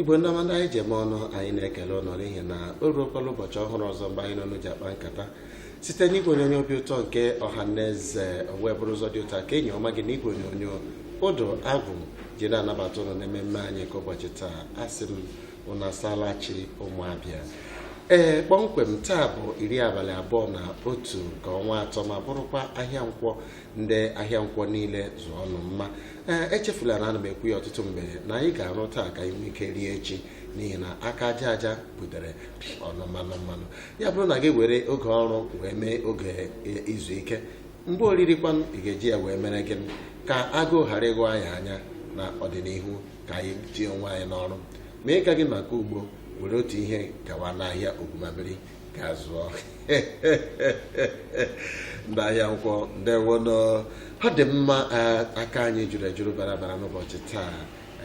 igbo ndị ọma ndị anyị ji eme ọnụ anyị na-ekele ụnụ n'ihi na o ruokwala ụbọchị ọhụrụ ọzọ mgbe anyị na ụnụ ji akpa nkata site n'igwe onyonyo obi ụtọ nke ọha na eze wee bụrụ ụzọ dị ụtọ ka enyi ọma gị n'igwe onyonyo ụdụ agwụ ji na-anabata ụnụ n'ememme anyị nke ụbọchị taa asị m unu asaala chi ụmụabịa ee kpọmkwem taa bụ iri abalị abụọ na otu nke ọnwa atọ ma bụrụkwa ahịa nkwọ ndị ahịa nkwọ niile zụọnụ mma ee echefula na ana m ekwu ya ọtụtụ mgbe na anyị ga-arụ taa ka anyị nwee ike rie echi n'ihi na aka aja aja butere ọnụ mmanụ mmanụ ya bụrụ na gị were oge ọrụ wee mee oge e- izu ike mgbe oriri kwanụ ị ga-eji ya wee mere gịnị ka agụụ ghara ịghọ anyị anya na ọdịnihu ka anyị tinye onwe anyị n'ọrụ ma ị gaghị maka ugbo were otu ihe gawa n'ahịa ogumabiri gaa zụọ ndị ahịa nkwọ ndewonụ ọ dị mma eh, aka anyị juru ejuru bara bara n'ụbọchị taa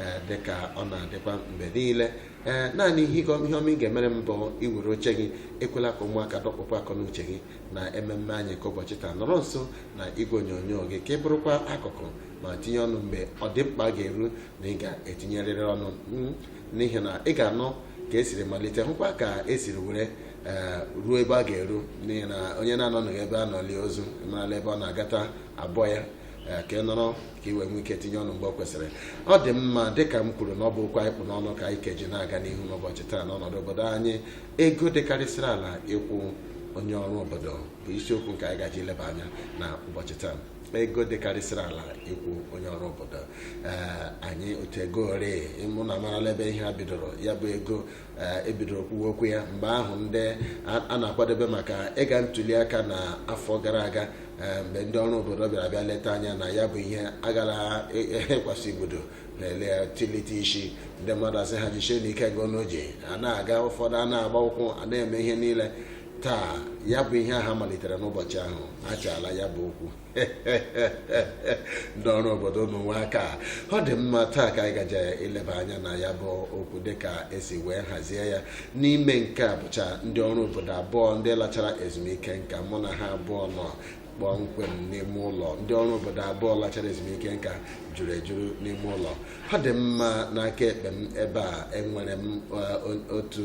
eh, dịka ọ na-adịkwa mgbe niile ee naanị ihe ịgọ- ihe ọma ị ga-emere m bụ iwere oche gị ekwela ka ụmụaka dọkpụpụ akọ n'uche gị na ememme anyị nke ụbọchị taa nọrọ nso na igwe onyonyo gị ka ị bụrụkwa akụkụ ma tinye ọnụ mgbe ọ dị mkpa ga-eru na ị ga-etinyerịrị ọnụ mm, n'ihi na ị ga-anụ ka esiri malite hụkwa ka esiri were eh, ruo ebe a ga-eru n'ihi na onye na-anọghị ebe a nọ lie ozu marala ebe ọ na-agata abọ ya eh, ka ị nọrọ ka ị wee nwee ike tinye ọnụ mgbe ọ kwesịrị ọ dị mma dịka m kwuru na ọ bụ okwu anyị kpụ n'ọnụ ka anyị keji na-aga n'ihu n'ụbọchị taa n'ọnọdụ obodo anyị ego dịkarịsịrị ala ịkwụ onye ọrụ obodo bụ isiokwu nke anyị gaje ileba anya na ụbọchị taa ego dịkarịsịrị ala ịkwụ onye ọrụ obodo ee anyị otu ekwere m na amarala ebe ihe a bidoro ya bụ ego ee ebidoro kwuwe okwu ya mgbe ahụ ndị a- a na-akwadebe maka ịga ntuli aka na afọ gara aga ee, mgbe ndị ọrụ obodo bịara bịa leta anya na ya bụ ihe agara ịkwasị igbodo na-ele ya tilite isi ndị mmadụ asị ha jichie na ike gị ọnụ ji a na-aga ụfọdụ a na-agba ụkwụ a na-eme ihe niile taa ya bụ ihe ha malitere n'ụbọchị ahụ achala ya bụ okwu ndị ọrụ obodo unu nwe aka ọ dị mma taa ka anyị gaje ileba anya na ya bụ okwu dịka esi wee hazie ya n'ime nke a bụcha ndị ọrụ obodo abụọ ndị lachara ezumike nka mụ na ha abụọ nọ kpọmkwem n'ime ụlọ ndị ọrụ obodo abụọ lachara ezumike nka juru ejuru n'ime ụlọ ọ dị mma n'aka ekpe m ebe a enwere m eh, otu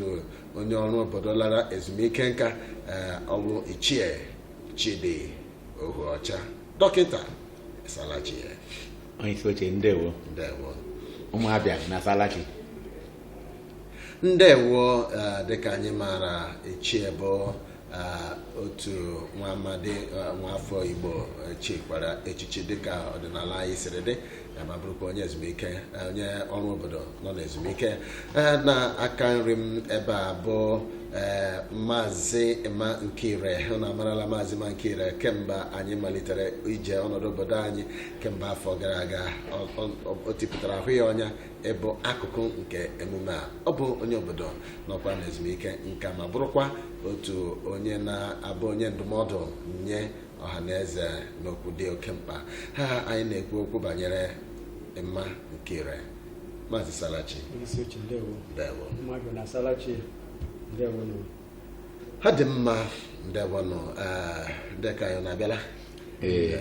onye ọrụ obodo lara ezumike nka eh, ọ bụ ichie chidi ohuọcha dọkịta ịsaala chi onye isi oche ndewo ndewo ụmụabịa unu asaala chi ndewo eh, dịka anyị maara ichie bụ otu nwa amadi nwa afọ igbo chikwara echichi dịka ọdịnala anyị siri dị ma bụrụkwa onye ezumike onye ọrụ obodo nọ n'ezumike n'aka nri m ebe a bụ maazị emma nkire na amarala maazị emma nkire kemgbe anyị malitere ije ọnọdụ obodo anyị kemgbe afọ gara aga o tipụtara ahụ ya ọnya ịbụ akụkụ nke emume a ọ bụ onye obodo nọkwa n'ezumike nka ma bụrụkwa otu onye na-abụ onye ndụmọdụ nye ọha na eze n'okwu dị oke mkpa ha anyị na-ekwu okwu banyere emma nkire maazị ị saala chi ndewo mmadụ na saala chi ndewo ọ dị mma ndewonụ dịka anyị na-abịala Ee.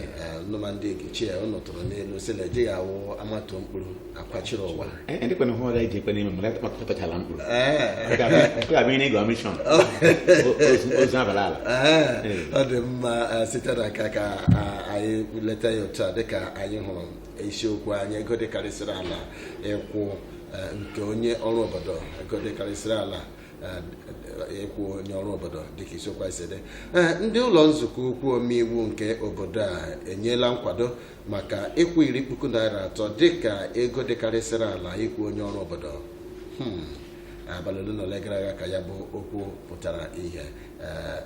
nụma ndị ichie ụnụ tụrụ n'ilu sị na ejighị awụ amata mkpụrụ akwachiri ụwa Ee, ndị kwana hụ ọga iji ekwe n'ime mgbe ọ tọchara mkpụrụ Ọ ga-abịa ihe n'ịga ọmishọn ozu abala ala Ee, ọ dị mma eh, site na ka ka ah, anyị leta ya otu a dịka anyị hụrụ isiokwu anyị ego dịkarịsịrị ala ịkwụ eh, nke onye ọrụ obodo ego dịkarịsịrị ala ịkwụ eh, onye ọrụ obodo dịka isiokwu a si dị eh, ndị ụlọ nzukọ ukwu omeiwu nke obodo a enyela nkwado maka ịkwụ iri puku naira atọ dịka ego dịkarịsịrị ala ịkwụ onye ọrụ obodo hmm, abalị ole na ole gara aga ka ya bụ okwu pụtara ihe eh,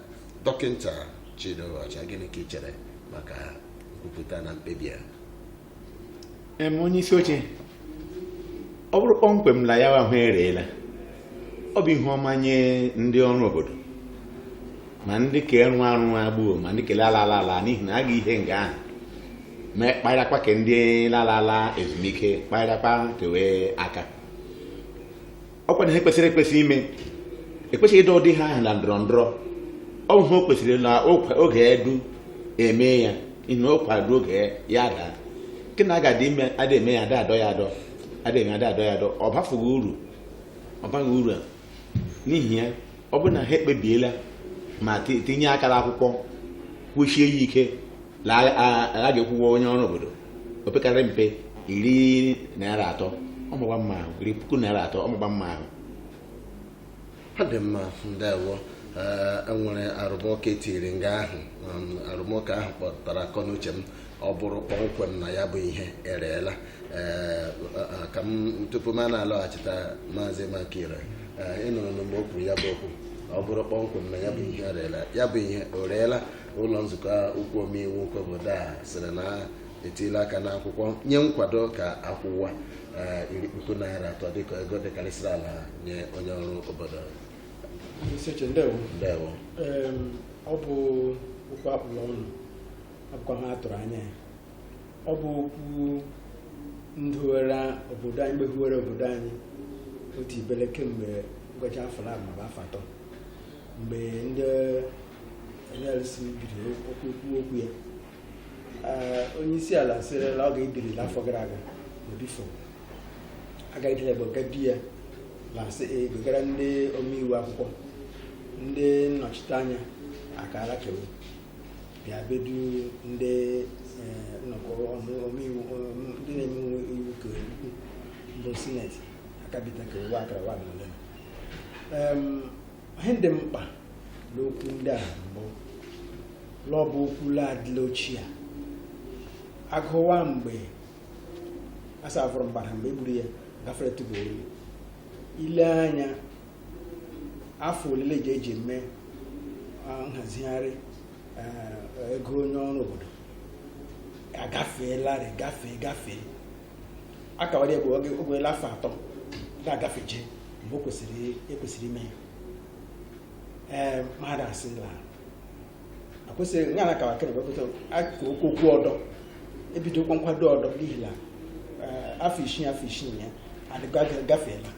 dọkịta Chidi Ohuọcha gịnị ka ị chere maka nkwupụta na mkpebi a em onye isi oche ọ bụrụ kpọmkwem na ya ahụ ereela ọ bụ ihe ọma nye ndị ọrụ obodo ma ndị ka ịrụ arụ gbuo ma ndị ke lala ala n'ihi na a ga ihe nga ahụ ma kparakwa ke ndị lala ala ezumike kparakwa ke we aka ọkwa na ihe kwesịrị ekwesị ime ekwesịghị ịdọ ụdị ihe ahụ na ndọrọ ndọrọ ọ bụ ihe o kwesịrị na okwa- oge edu eme ya ihe o kwado oge ya daa nke na aga ime ada eme ya ada adọ ya adọ ada eme ada adọ ya adọ ọ bafughị uru ọ baghị uru a n'ihi ya ọ bụrụ na ha ekpebiela ma ti- tinye aka n'akwụkwọ kwusie ya ike la a- a- a ga-akwụwa onye ọrụ obodo opekarị mpe iri naira atọ ọ makwa mma ahụ iri puku naira atọ ọ makwa mma ahụ ọ dị mma ndewo ee enwere arụmụka etiri nga ahụ um, arụmụka ahụ kpọtụrụ akọ na uche m ọ bụrụ kpọmkwem na ya bụ ihe ereela ee a- a- ka m tupu m na-alọghachita maazị emma nkire ee ịnụrụ na mgbe o kwuru ya bụ okwu ọ bụrụ kpọmkwem na ya bụ ihe ereela ya bụ ihe o reela ụlọ nzukọ ukwu omeiwu nke obodo a sịrị na etiela aka n'akwụkwọ nye nkwado ka a kwụwa eh, iri puku naira atọ dịka ego dịkarịsịrị ala nye onye ọrụ obodo ndewo ọ bụ okwu a kpụ l'ọnụ akwụkwọ ha tụrụ anya ya ọ bụ okwu ndị ọrụ obodo anyị mgbehiwere obodo anyị otu ibele kemgbe ngwacha afọ na afọ atọ mgbe ndị NLC biri ikwu okwu ya onye isi ala sịrị la ọ ga-ebiri n'afọ gara aga n'odifo agaghịdịla bụ nke di ya la sị ezigara ndị omeiwu akwụkwọ ndị nnọchiteanya akara kewu bịa bedu ndị nnọkọ omeiwu ndị na-eme iwu ka ukwu bụ sineti akabita kewu akara wa na ole ihe dị mkpa n'okwu ndị a mbụ la ọ bụ okwu la adịla ochie agụwa mgbe asafụrụ mgbada mgbe egburu ya gafere tụba oyi ile anya afọ ole la eji eji eme nhazigharị ego onye ọrụ obodo agafeelarị gafee gafee akawara egbe oge ogwela afọ atọ ga-agafeje mgbe o kwesịrị ekwesịrị ime ya ee mmadụ asị la akwesịrị ya na akawa kere wepụta aka okwu okwu ọdọ ebidokwa nkwado ọdọ n'ihi na ee, afọ isii afọ isii ya adịga gafeela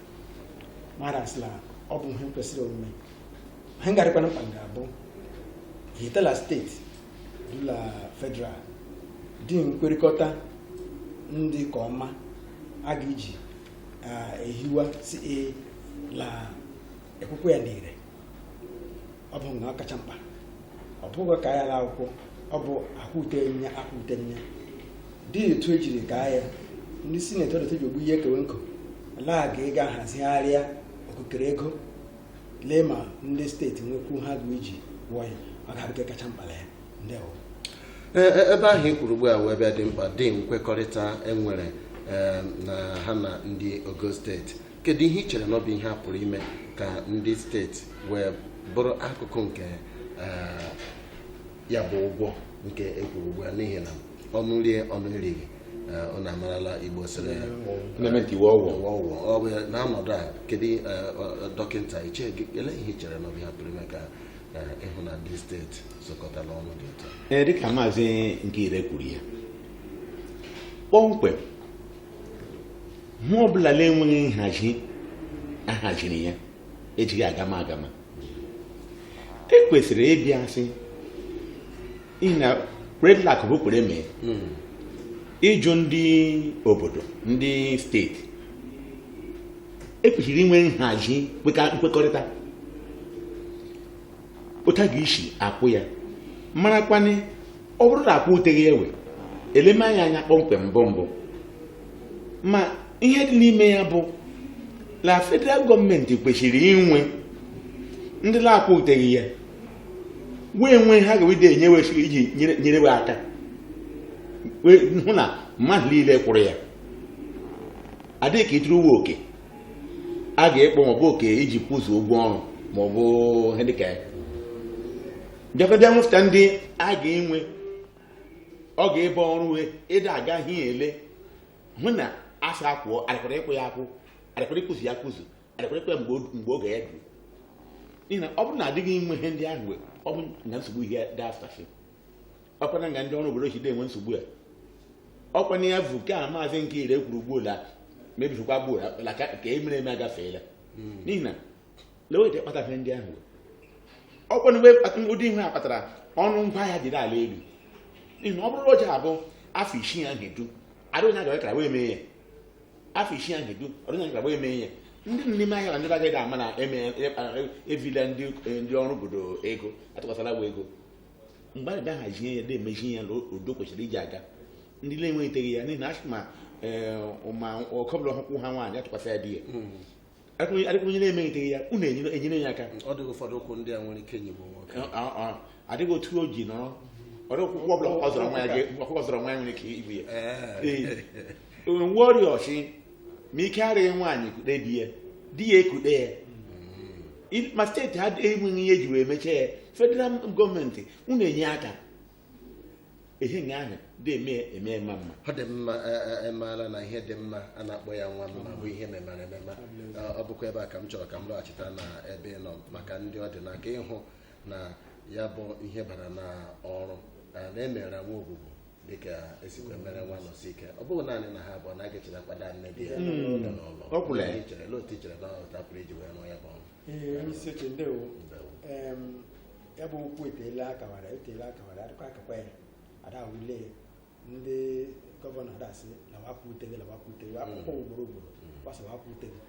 mmadụ asị la ọ bụ ihe kwesịrị omume ihe ga-adịkwanụ mkpa ga-abụ ịhụta la steeti la federal dị nkwekọrịta ndị ka ọma a ga-eji ehiwa isi e, la ekwukwe ya n'ire ọ bụ nke ọ kacha mkpa ọ bụghị ka ya la akwụkwọ ọ bụ akwụte nye akwụte nye dị etu ejiri ka ya ndị sineti ọdọtọ ji ogbu ihe ekewe nkụ la a ga-aga hazigharịa okukere ego lee ma ndị steeti nwekwu ha ga-eji kwụọ ya ọ ga-abụ nke kacha mkpa na ya ndewo E- e- ebe ahụ i kwuru ugbu a wee bịa dị mkpa dị nkwekọrịta enwere eh, na ha na ndị ogo steeti kedu ihe i chere na ọ bụ ihe a pụrụ ime ka ndị steeti wee bụrụ akụkụ nke eh, ya bụ ụgwọ nke ekwuru ugbu a n'ihi na ọnụ rie ọnụ erighị ọ na-amarala igbo sịrị na-eme nke iwu ọgwụ ụwa ụwa ọ bụ ya n'ọnọdụ a kedu eh, ọ- ọ- dọkịta Iche gị ele ihe i chere na ọ bụ ihe a pụrụ ime ka eh, ịhụ na ndị steeti zụkọtala ọnụ dị ụtọ Ee, dịka maazị Nkire kwuru ya kpọmkwem ihe ọbụla na-enweghị nhazi ahaziri ya ejighị agama agama e kwesịrị ịbịa sị ị na predlak bụ kwere mee hmm. ịjụ ndị obodo ndị steeti ekwesịrị inwe nhazi nkwekọrịta otu a ga-esi akwụ ya marakwanị ọ bụrụ na akwụteghị ya e wee leme anya anya kpọmkwem mbụ mbụ ma ihe dị n'ime ya bụ na federal gọọmenti kwesịrị inwe ndị na-akwụteghị ya wee nwee ha ga-ede enye wesịrị iji nyere we aka hụ na mmadụ niile kwụrụ ya adịghị ka ịtụrụ we oke a ga-ekpọ maọbụ oke iji kwụzu ụgwọ ọrụ maọbụ ihe dịka ya bịakọbịa nwefụta ndị a ga-enwe ọ ga-abụ ọrụ we ịda agaghị ele hụ na a sị akwụọ arịkwara ịkwụ ya akwụ arịkwara ịkwụzu ya kwụzu ekwerekwe mgbe o- mgbe oge ya duru n'ihi na ọ bụrụ na adịghị inwe ihe ndị ahụ ọ bụ na nsogbu ihe dị afụta ọkwana nga ndị ọrụ obodo si dị enwe nsogbu ya ọkwana ya bụ nke a maazị Nkire kwuru ugbu ola mebirikwa gbuo la ka ka e mere eme agafeela n'ihi na lewe ihe kpata ihe ndị ahụ ọkwana mgbe kpata- ụdị ihe a kpatara ọnụ ngwa ahịa jiri ala elu n'ihi na ọ bụrụ na ọ ja-abụ afọ isii ahụ edu adịghị na agawe kara wee mee ya afọ isii ahụ edu ọrụ anyị gbagba eme ihe ndị n'ime ahịa na ndị agaghị ama na eme evila ndị ndị ọrụ obodo ego atụkwasịla we ego mgbe anyị bịa hazie ya na-emezi ihe n'otu o kwesịrị iji aga ndị na-enweghịteghị ya n'ihi na asị ma ma oke ọbụla ụkwụ ha nwaanyị atụkwasị ya di ya adịkwara onye na-emeghịteghị ya unu enyere ya aka ọ dịghị ụfọdụ ụkwụ ndị a nwere ike nyịgbu nwoke adịghị otu o ji nọrọ ọrụ ọkụkọ ọbụla ọ zọrọ nwa ya ọkụkọ zọrọ nwa ya nwere ike igbu ya nwa ọrịa ọchị ma ike adịghị nwaanyị kude di ya di ya ekude ya ma steeti ha enweghị ihe eji wee mechie ya federal gọọmenti unu enye aka ihe nga ahụ dị eme eme eme mma ọ dị mma emeela na ihe dị mma a na-akpọ ya nwa mma bụ ihe memara emema ọ bụkwa ebe a ka m chọrọ ka m lọghachita na ebe ị nọ maka ndị ọ dị n'aka ịhụ na ya bụ ihe bara na ọrụ na e mere nwa Ogwugwu dịka e sikwa mere nwa Nọsike ọ bụghị naanị na ha abụọ na aga echeta kwada nne di ya n'ụlọ ọ kwụrụ ya ichere otu ichere na otu a pụrụ iji wee rụọ ya bụ ọrụ ee onye isi oche ndewo Ndewo. Em, ya bụ okwu eteela a kawara eteela a kawara a dịkwa akakwa ya ada wule ndị gọvanọ ada asị na wakwute gị na wakwute gị akwụkwọ ugboro ugboro gbasa wakwute gị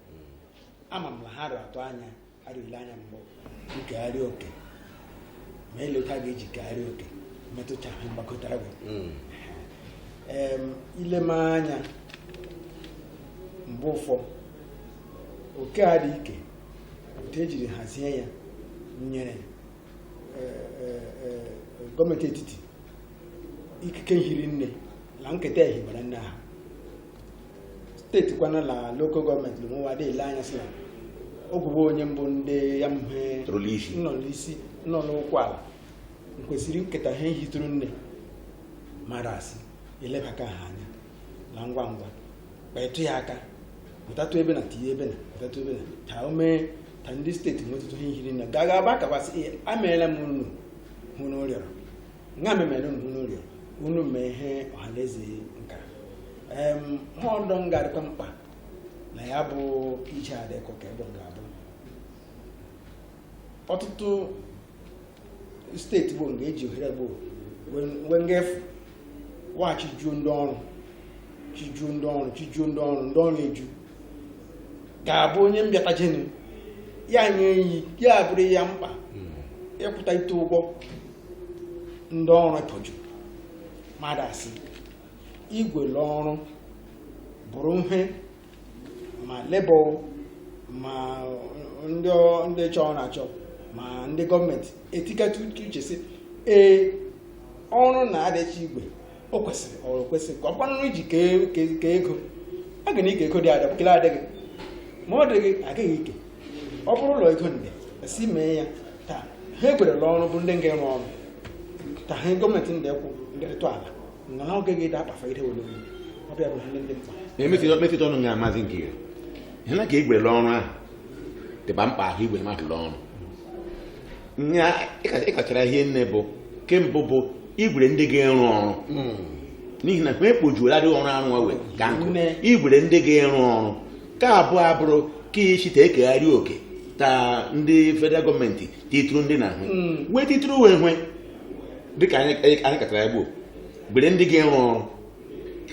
ama m na ha rị atụ anya a rị ele anya mgbe nkegharị oke ma eleta ga-eji kegharị oke metụcha ha mgbakọtara gị em ileme anya mgbe ụfọ oke a dị ike otu e jiri hazie ya nyere eh, eh, eh, gọọmenti etiti ikike hiri nne na nketa ehibara nne ahụ steeti kwana na lokal gọọmenti lụmụwa dị ele anya sị na ọ kwụ bụ onye mbụ ndị ya mhe nọ n'isi nọ n'ụkwụ ala kwesịrị nketa ha ehitụrụ nne ma da asị elebaka ha anya na ngwa ngwa kpatụ ya aka pụtatụ ebe na tinye ebe na pụtatụ ebe na ka o mee ka ndị steeti nwetụtụ ihe hiri nne gaga aba kakwasị ihe emeela m unu ihe unu rịọrọ nga m meere unu ihe unu rịọrọ unu mee ihe ọhaneze nka em ihe ọdọ nga-adịkwa mkpa na ya bụ ije adịkọ ka ebe m ga-abụ ọtụtụ steeti bụ nga eji ohere gboo wee nga efu wa chijuo ndị ọrụ chijuo ndị ọrụ chijuo ndị ọrụ ndị ọrụ eju ga-abụ onye mbịata jenu ya nye iyi ya bụrụ ya mkpa ịkwụta ite ụgwọ ndị ọrụ ikpoju mmadụ asị igwe n'ọrụ bụrụ ihe ma lebọ ma ndị chọ ọrụ achọ ma ndị gọọmenti etikata uche sị ee ọrụ na-adịcha igwe o kwesịrị ọrụ kwesịrị ka ọ kwanụ iji kee ego a ga na-eke ego dị ada kele adịghị ma ọ dịghị agaghị eke ọ bụrụ ụlọ ego nde si mee ya taa ha e gwere n'ọrụ bụ ndị nga-arụ ọrụ taa ha gọọmenti ndị kwụ ndị rịtụ ala ngana oge ga-ede akpafa ide were onye ọ bịa bụ ihe ndị mkpa na-emetụta ọnụ nga amazi nke ya ihe na ka igwe n'ọrụ ahụ dịba mkpa ahụ igwe mmadụ n'ọrụ nya akachara ihi nne bụ nke mbụ bụ igwere ndị ga-arụ ọrụ n'ihi na e kpojuola ndị ọrụ arụ ọwe ka nkụ igwere ndị ga-arụ ọrụ nke abụọ abụrụ ka ichite ekegharị oke ka ndị federal gọọmenti titụrụ ndị na ahụ wee titụrụ wee hwe dịka anyị anyị katara ya gboo gwere ndị ga-arụ ọrụ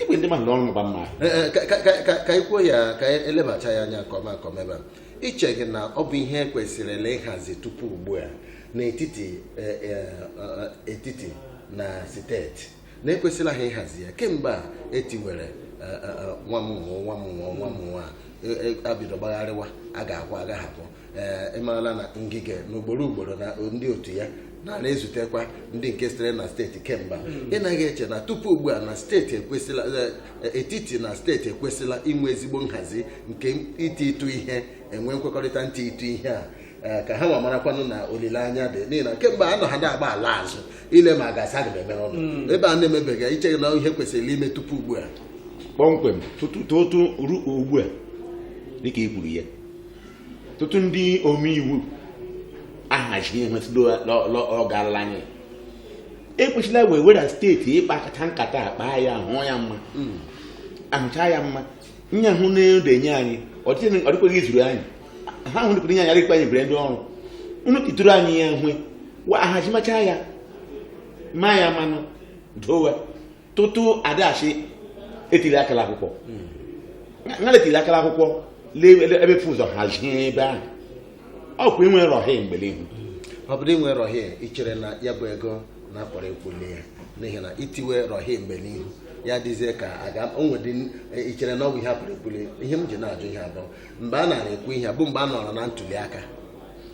igwe ndị mmadụ n'ọrụ mgba mma Ee, ee, ka- ka- ka- ka- ka i kwuo ya ka e lebacha ya anya nke ọma nke ọma ebe a i cheghị na ọ bụ ihe e kwesịrịla ịhazi tupu ugbu a n'etiti eh, eh, eh, etiti na steeti na e kwesịla ha ịhazi ya kemgbe a e tiwere eh, eh, eh, nwa m nwụọ nwa m nwụọ nwa m nwụọ a, eh, eh, abido gbagharịwa a ga-akwụ agaghị akwụ ee ịmarala na Ngige na ugboro ugboro na ndị otu ya nara ezutekwa ndị nke sitere na steeti kemgbe ị naghị eche na tupu ugbu a na steeti ekwesịla e, etiti na steeti ekwesịla inwe ezigbo nhazi nke iti ịtụ ihe enwe nkwekọrịta ntị ịtụ ihe a Eh, ka ha ma marakwanụ na olileanya dị n'ihi na kemgbe anọ ha na-agba ala azụ ile ma ga-asa ga emere ọnụ hmm. ebe a na-emebeghị i che na ihe kwesịrị ime tupu ugbu a kpọmkwem tutu ru ugbu a dịka i kwuru ya tutu ndị omeiwu ahazighị ihe metụdo ọ gaarala anyị ekwesịla wee were steeti ịkpakọta nkata a kpa ya hụ ya mma a hụcha ya mma nya hụ na-edenye anyị ọ dịghị- ọ dịkwaghị izuru anyị ha hụ dịkwara nye anyị adịkwa anyị bere ndị ọrụ unu ituru anyị ya hwe wa a hazimacha ya ma ya manụ dowe tutu adachi etiri aka n'akwụkwọ na etiri aka n'akwụkwọ lee ele- ebe fụ ụzọ hazie ebe ahụ ọ kwa inwe rọhị mgbe n'ihu ọ bụrụ inwe rọhie ichere na ya bụ ego na a pụrụ ịkwụli ya n'ihi na itiwe rọhie mgbe n'ihu ya dịzie ka a ga onwedị ichere na ọ bụ ihe a pụrụ ịkwụli ihe m ji na-ajụ ihe a bụ mgbe a nara ekwu ihe a bụ mgbe a nọrọ na ntuli aka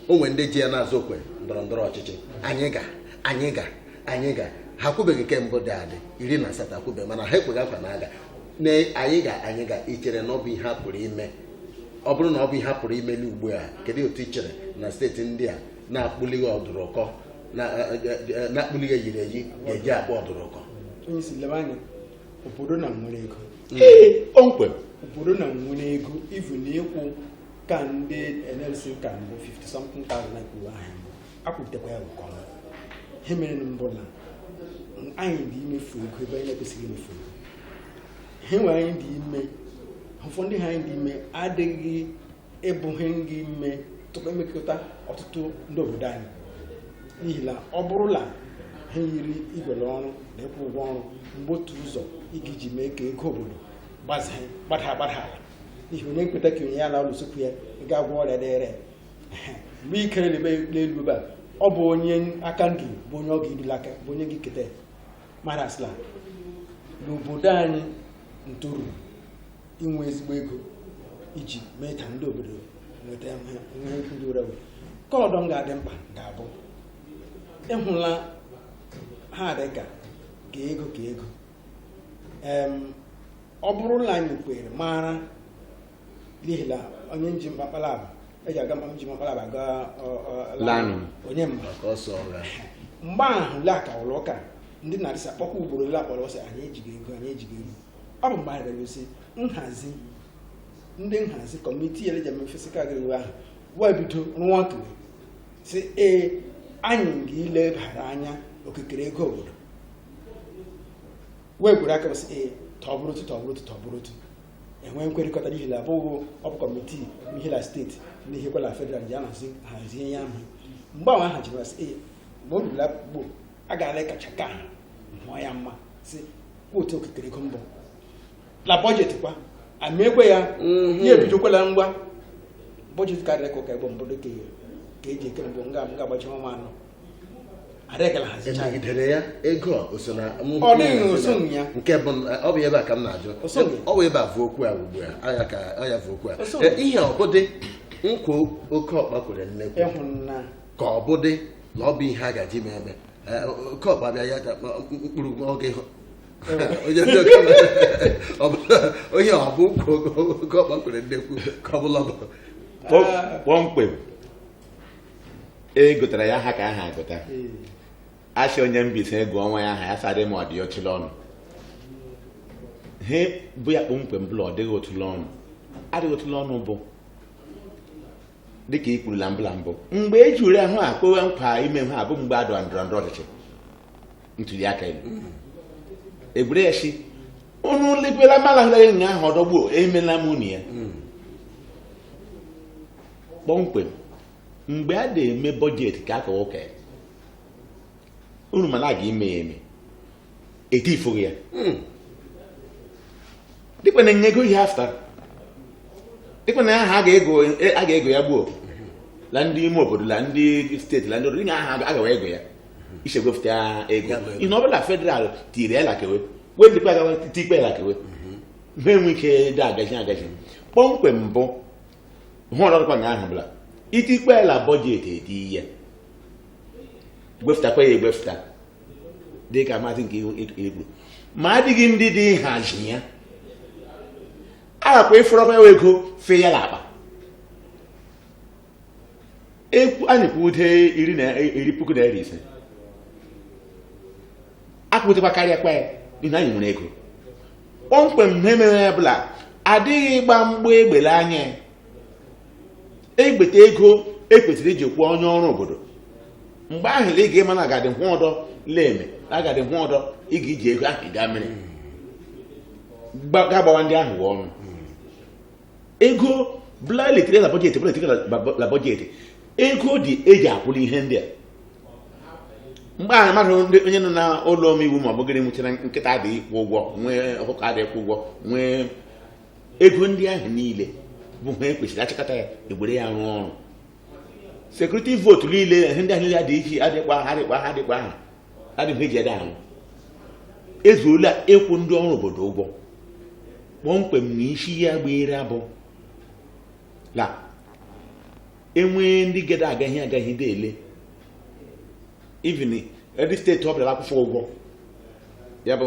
o nwere ndị ji ya na-azụ okwe ndọrọ ndọrọ ọchịchị anyị ga anyị ga anyị ga ha akwụbeghị nke mbụ dị adị iri na asatọ akwụbeghị mana ha ekwegha nkwa na-aga na anyị ga anyị ga ichere na ọ bụ ihe a pụrụ ime ọ bụrụ na ọ bụ ihe a pụrụ ime n'ugbu a kedu otu ichere na steeti ndị a na-akpụlighị ọdụrụkọ na-akpụlighị eyiri eyi ga-eji akpụ ọdụrụkọ obodo na nwere ego kpọmkwem obodo na nwere ego ivu na ịkwụ ka ndị NLC ka mbụ 50 something thousand na kwuru ahụ akwụpụtakwa ya nke ọma ihe mere nụ bụ na anyị dị imefu ego ebe anyị na-ekwesịghị imefu ego ihe nwere anyị dị ime ụfọdụ ha anyị dị ime adịghị ịbụghị ndị ime tupu emekọta ọtụtụ ndị obodo anyị n'ihi na ọ bụrụ na ha yiri igwere ọrụ na ịkwụ ụgwọ ọrụ mgbe otu ụzọ ị ga-eji mee ka ego obodo gbada gbada ala n'ihi onye keta ka onye ya na ụlọ sokwu ya ga-agwọ ọrịa dịrị mgbe i kere n'elu ebe a ọ bụ onye aka ndụ bụ onye ọ ga-ebili aka bụ onye ga-eketa mara asịla n'obodo anyị ntoru inwe ezigbo ego iji mee ka ndị obodo nweta ihe ndị ụra were kọlọdọ m ga-adị mkpa ga-abụ ịhụla ha dị ka ka ego ka ego Em, ọ bụrụ na anyị kwere mara n'ihi na onye nji mkpakpala abụ eji aga mkpa nji mkpakpala abụ aga ọ- ọ- Lanụ. onye mma maka ọsọ ọra mgbe ahụ le aka ụlọ ụka ndị na-adịsa kpọkwa ugboro ole akpọrọ ọ sị anyị ejighị ego anyị ejighị ego ọ bụ mgbe anyị rere osi nhazi ndị nhazi kọmitii ele ji eme fiscal gịrị ahụ wee bido rụwa ọrụ sị ee anyị ga-ilebara anya okikere ego obodo wee gwere aka sị ee tọbụrụ otu tọbụrụ otu tọbụrụ otu e nwee nkwerịkọta n'ihi na abụghị ọ bụ kọmitii ihe na steeti na ihe kwala federal ji ahazi hazie ya ahụ mgbe ahụ ha jiri sị ee mgbe o ruru akpụkpọ a ga-ala kacha ka ha mụọ ya mma sị otu okikere ego mbụ na bọjetị kwa ama ekwe ya Mhm. ya ebidokwala ngwa bọjetị karịrị ka ụka egbo mbụ dịka ka e ji eke mbụ nga m ga-agbachi ọnwa anọ emegidere ya ego ọ dịghị ya nke bụ ọ bụ ebe a ka m na-ajụ ọ bụ ebe a vu okwu a ugbu a ya ka ọ ya vu okwu a e, ihe ọ bụ dị nkwa oke ọkpa kwere nnekwu ka ọ bụ dị na ọ bụ ihe a gaji ime eme e, oke ọkpa bịa ya mkpụrụ oge onye ọ bụ oke ọkpa kwere nnekwu ka ọ bụla kpọmkwem a gụtara ya aha ka aha agụta a sị onye Mbaise gụọ nwa ya aha ya sị adịma ọ dị otụla ọnụ he bụ ya kpọmkwem bụla ọ dịghị otụla ọnụ adịghị otụla ọnụ bụ dịka i kwurula mbụla mbụ mgbe e ji ure ahụ a kwewe nkwa ime ha bụ mgbe a dọrọ ndọrọ ndọrọ ọchịchị ntuli aka elu egwure ya sị unu lekwela mala hụrụ ya ụnyaahụ ọdọ gbuo emela m unu ya kpọmkwem mgbe a na-eme bọjetị ka a ka ụka unu mana a ga-ime ya eme etifụghị ya hmm. dịkwa na nyego ihe afta dịkwa na aha a ga-ego ya gbuo la ndị ime obodo la ndị steeti la ndị obodo nye aha agawa ego ya i si egwepụta ego ihe ọ bụla federal tiri ya lakewe wee dịkwa agawa tikpe ya lakewe ha enwe ike dị agaji agaji kpọmkwem mbụ ihe ọdọ dịkwa nga ahụ bụ la i tikpee la bọjetị e tie ya gwefụtakwa ya egwefụta dị ka maazị nke ikwu ma adịghị ndị dị nhazi ya agakwa ịfụrọkwa ya ego fee ya n'akpa ekwu anyị kwude iri na iri puku naira ise akwụzikwa karịa kwa ya n'ihi na anyị nwere ego kpọmkwem ihe mere ya bụ la adịghị ịgba mgba egbe la anya. e gbeta ego e kwesịrị iji kwụọ onye ọrụ obodo mgbe ahụ ị ga-ama na agadị hụ ọdọ la-eme na agadị hụ ọdọ ị ga-eji ego ahụ gaa mere Gba- ga-agbawa ndị ahụ ọnụ ego ọ bụla e tiri na bọjetị ego dị e ji akwụrụ ihe ndị a mgbe ahụ mmadụ ndị onye nọ na ụlọ omeiwu ma ọ bụgịrị nwụchara nkịta adịghị akwụ ụgwọ nwee ọkụkọ adịghị akwụ ụgwọ nwee ego ndị ahụ niile bụ ha e kwesịrị a chịkọta ya e were ya rụọ ọrụ sekuriti vootu niile ihe ndị ahụ niile adịghị iche adịkwa ha adịghị eji ada ahụ ezuola ịkwụ ndị ọrụ obodo ụgwọ kpọmkwem na isi ya gbere abụ na e nwee ndị gada agaghị agaghị dị ele even every steeti ọ bụla akwụfu ụgwọ ya bụ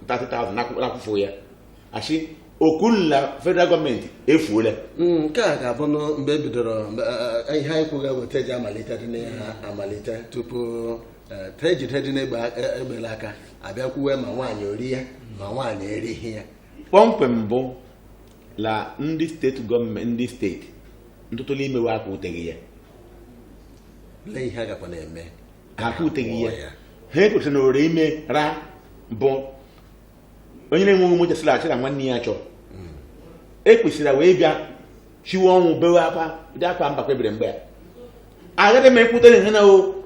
30,000 akwụfu ya achị okwu na federal gọọmenti efuola Mm, nke a ga-abụ nụ mgbe e bidoro mgbe, eh, eh, ihe anyị kwuga weta eji amalite dị n'ihe ha amalite tupu eh, ka e jidedị egbe a- eh, egbe la aka a bịa kwuwe ma nwaanyị o ri ya ma nwaanyị erighị ya kpọmkwem bụ na ndị steeti gọọmenti ndị steeti ọtụtụ n'ime we aka ruteghị ya lee ihe a gakwa na-eme ha aka ruteghị ya Kpọọ ha ekwetara na ore ime ra bụ onye na-enweghị ụmụ chesịrị achị na nwanne ya chọrọ ekwesịrị wee bịa chiwe ọnwụ bewe akwa dị akwa mba kpebiri mgbe a agaghị m ekwute na ihe na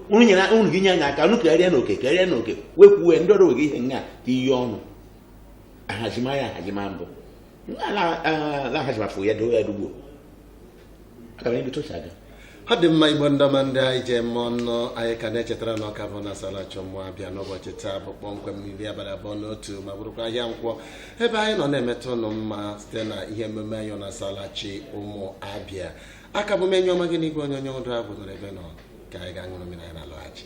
unu nyere unu gị nye anya aka unu karịa na oke karịa na oke wee kwuwe ndị ọrụ wege ihe nga ka iyi ọnụ ahazimanya ahazima mbụ na-ahazimafụ ya dowe ya dugbo ọ dị mma Igbo ndị ọma ndị anyị ji eme ọnụ anyị ka na-echetara na ọ ka bụ nụ asaala chi ụmụ Abịa n'ụbọchị taa bụ kpọmkwem n'iri abalị abụọ na otu ma bụrụkwa ahịa nkwọ ebe anyị nọ na-emeta ụnụ mma site na ihe emume anyị nụ asaala chi ụmụ Abịa a ka bụ m enyi ọma gị na igwe onyonyo Ndụ Agụ nọrọ ebe ị nọ ka anyị gaa ṅụrụ mmiri anyị na-alọghachi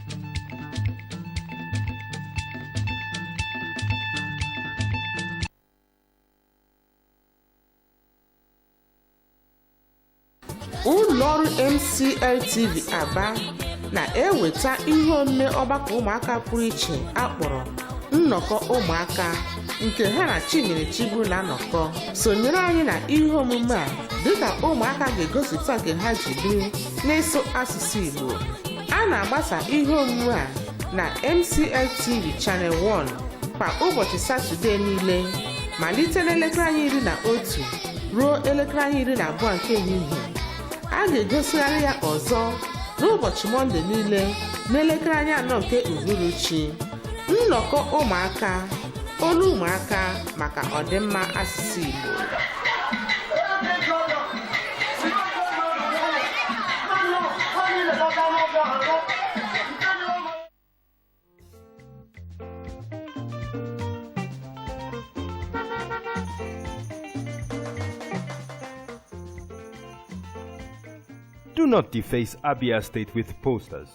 ụlọ ọrụ MCL TV Aba na-eweta ihe omume ọgbakọ ụmụaka pụrụ iche a kpọrọ nnọkọ ụmụaka nke ha na Chinyere Chigbu na-anọkọ sonyere anyị na ihe omume a dịka ụmụaka ga-egosipụta nke ha ji biri n'ịsụ asụsụ Igbo a na-agbasa ihe omume a na MCL TV Channel 1 kwa ụbọchị Satọdee niile malite n'elekere anya iri na otu ruo elekere anya iri na abụọ nke ehihie a ga-egosigharị ya ọzọ n'ụbọchị Mọnde niile n'elekere anya anọ nke uhuruchi nnọkọ ụmụaka olu ụmụaka maka ọdịmma asụsụ Igbo Do not deface Abia State with posters.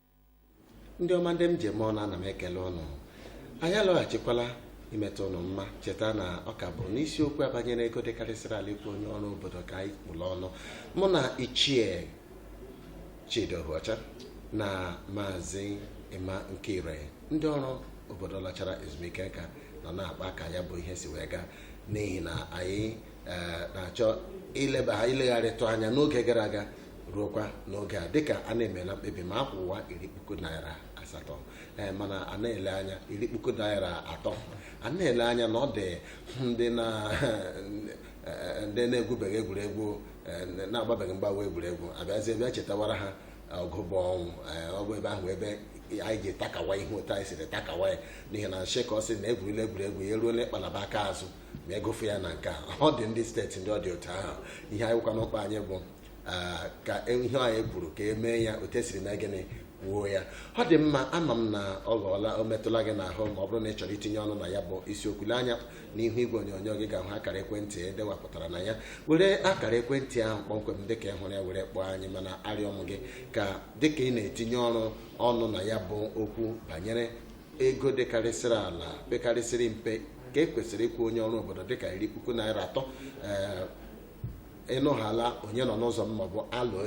ndị ọma ndị m ji eme ọnụ ana m ekele ụnụ anyị alọghachikwala imeta ụnụ mma cheta na ọ ka bụ n'isiokwu a banyere ego dịkarịsịrị ala ịkwụ onye ọrụ obodo ka anyị kpụrụ ọnụ mụ na ichie Chidi Ohuocha na maazị Emma Nkire ndị ọrụ obodo lachara ezumike nka nọ na-akpa ka ya bụ ihe si wee gaa n'ihi na anyị eh, na-achọ ileba ha ilegharịtụ anya n'oge gara aga ruokwa n'oge a dịka a na-emela mkpebi ma akwụwa iri puku naira asatọ ee eh, mana a na-ele anya iri puku naira atọ a na-ele anya na ọ dị ndị na eh, ndị na-egwubeghị egwuregwu na-agbabeghị mgbawa egwuregwu abịazie bịa chetawara ha ọgụ bụ ọnwụ ọ bụ ebe ahụ ebe anyị ji takawa ihe otu anyị siri takawa ya n'ihi na nshịkọ sị na egwurila egwuregwu ya eruola ịkpalaba aka azụ ma egofe ya na nke a ọ dị ndị steeti ndị ọ dị otu ahụ ihe anyị bukwa n'ụkpa anyị bụ ah, ka e- ihe anyị kwuru ka e mee ya otu e siri mee gịnị kwuo ya ọ dị mma ama m na ọ ghọọla o metụla gị n'ahụ ma ọ bụrụ na ị chọrọ itinye ọnụ na ya bụ isiokwu lee anya n'ihu igwe onyonyo gị ị ga-ahụ akara ekwentị e dewapụtara na ya were akara ekwentị ahụ kpọmkwem dịka ị hụrụ ya were kpọọ anyị mana arịọ m gị ka dịka ị na-etinye ọrụ ọnụ na ya bụ okwu banyere ego dịkarịsịrị ala pekarịsịrị mpe ka e kwesịrị ịkwụ onye ọrụ obodo dịka iri puku naira atọ ị nụhala onye nọ n'ụzọ m maọbụ alo